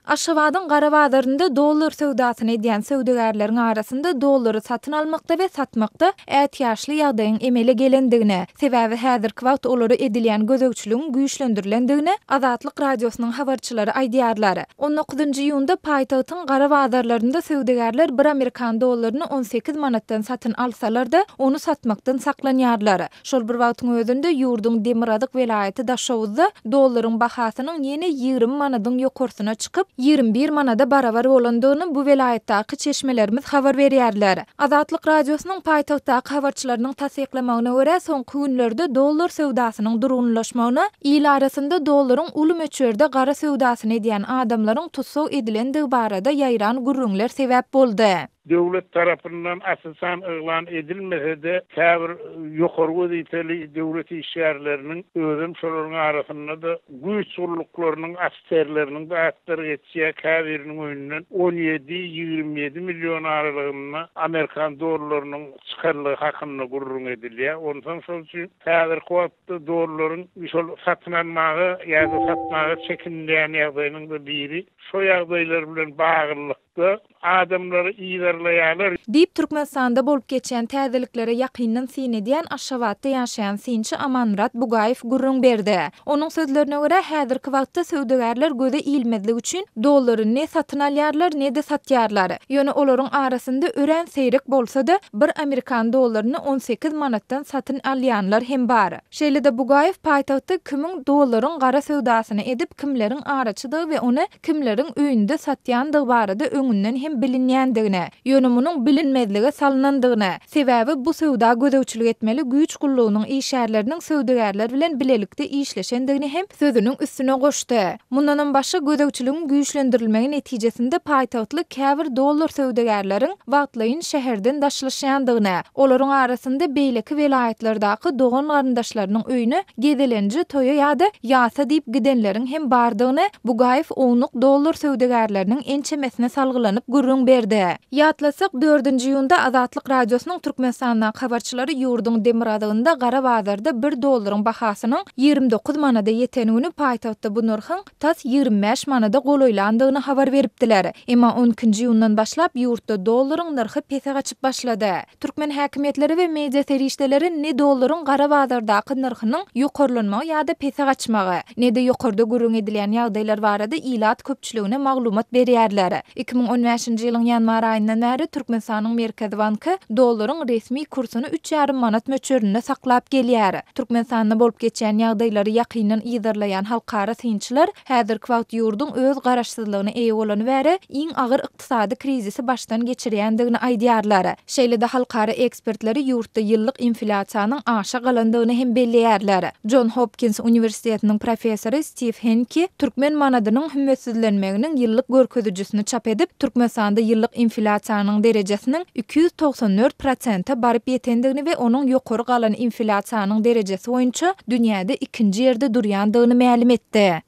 Aşgabadyň gara bazarynda dollar söwdasyny edýän söwdagärleriň arasynda dollary satyn almakda we satmakda ätiýaçly ýagdaýyň emele gelendigini, sebäbi häzirki wagt olara edilýän gözegçiligiň güýçlendirilendigini Azatlyk Radiosynyň habarçylary aýdýarlar. On dokuzynjy iýunda paýtagtyň gara bazarlarynda söwdagärler bir amerikan dollaryny on sekiz manatdan satyn alsalar-da, ony satmakdan saklanýarlar. Şol bir wagtyň özünde ýurduň demirgazyk welaýaty Daşoguzda dollaryň bahasynyň ýene ýigrimi manadyň ýokarsyna çykyp, ýigrimi bir manada barabar bolandygyny bu welaýatdaky çeşmelerimiz habar berýärler. Azatlyk Radiosynyň paýtagtdaky habarçylarynyň tassyklamagyna görä, soňky günlerde dollar söwdasynyň durgunlaşmagyna il arasynda dollaryň uly möçberde gara söwdasyny edýän adamlaryň tussag edilendigi barada ýaýran gürrüňler sebäp boldy. Döwlet tarapyndan asyl san yglan edilmese-de, käbir ýokary wezipeli döwlet işgärleriniň, özem şolaryň arasynda-da güýç gulluklarynyň ofiserleriniň de atlary geçýär, käbiriniň öýünden on ýedi, ýigrimi ýedi million aralygynda amerikan dollarynyň çykanlygy hakynda gürrüň edilýär. Onsoň şol üçin häzirki wagtda dollaryň şol satyn almaga ýa-da satmaga çekinilýän ýagdaýynyň-da biri şo ýagdaýlar bilen baglylyk. we adamlary yzarlaýarlar. Diýip, Türkmenistanda bolup geçýän täzeliklere ýakyndan syn edýän Aşgabatda ýaşaýan synçy Amanmyrat Bugaýew gürrüň berdi. Onuň sözlerine görä, häzirki wagtda söwdagärler göze ilmezlik üçin dollary ne satyn alýarlar, ne-de satýarlar. Ýöne olaryň arasynda örän seýrek bolsa-da, bir amerikan dollaryny on sekiz manatdan satyn alýanlar hem bar. Şeýle-de Bugaýew paýtagtda kimiň dollaryň gara söwdasyny edip, kimleriň araçydygy we ony kimleriň öýünde satýandygy barada öňünden hem bilinýändigini, ýöne munuň bilinmezlige salnandygyny, sebäbi bu söwda gözegçilik etmeli güýç gullugynyň işgärleriniň söwdagärler bilen bilelikde işleşendigini hem sözüniň üstüne goşdy. Mundanam başga, gözegçiligiň güýçlendirilmegi netijesinde paýtagtly käbir dollar söwdagärleriň wagtlaýyn şäherden daşlaşýandygyny, olaryň arasynda beýleki welaýatlardaky dogan-garyndaşlarynyň öýüne Gezelenje, toýa ýa-da ýasa diýip gidenleriň hem bardygyny Bugaýew ownuk dollar söwdagärleriniň ençemesine salgylanyp gürrüň berdi. Ýatlasak, dördünji iýunda Azatlyk Radiosynyň Türkmenistandaky habarçylary ýurduň demirazygynda gara bazarda bir dollaryň bahasynyň ýigrimi dokuz manada ýeten güni paýtagtda bu nyrhyň tas ýigrimi bäş manada golaýlandygyny habar beripdiler. Emma on ikinji iýundan başlap ýurtda dollaryň nyrhy pese gaçyp başlady. Türkmen häkimiýetleri we media serişdeleri ne dollaryň gara bazardaky nyrhynyň ýokarlanmagy ýa-da pese gaçmagy, ne-de ýokarda gürrüň edilýän ýagdaýlar barada ilat köpçüligine maglumat berýärler. Iki müň on bäşinji ýylyň ýanwar aýyndan bäri Türkmenistanyň Merkezi banky dollaryň resmi kursuny üç ýarym manat möçberinde saklap gelýär. Türkmenistanda bolup geçýän ýagdaýlary ýakyndan yzarlaýan halkara synçylar häzirki wagt ýurduň öz garaşsyzlygyna eýe bolany bäri iň agyr ykdysady krizisi başdan geçirýändigini aýdýarlar. Şeýle-de halkara ekspertleri ýurtda ýyllyk inflýasiýanyň aşa galandygyny hem belleýärler. Jon Hopkins uniwersitetiniň professory Stiw Henki türkmen manadynyň hümmetsizlenmeginiň ýyllyk görkezijisini çap edip, Türkmenistanda ýyllyk inflýasiýanyň derejesiniň iki ýüz togsan dört prosente baryp ýetendigini we onuň ýokary galan inflýasiýanyň derejesi boýunça dünýäde ikinji ýerde durýandygyny mälim etdi.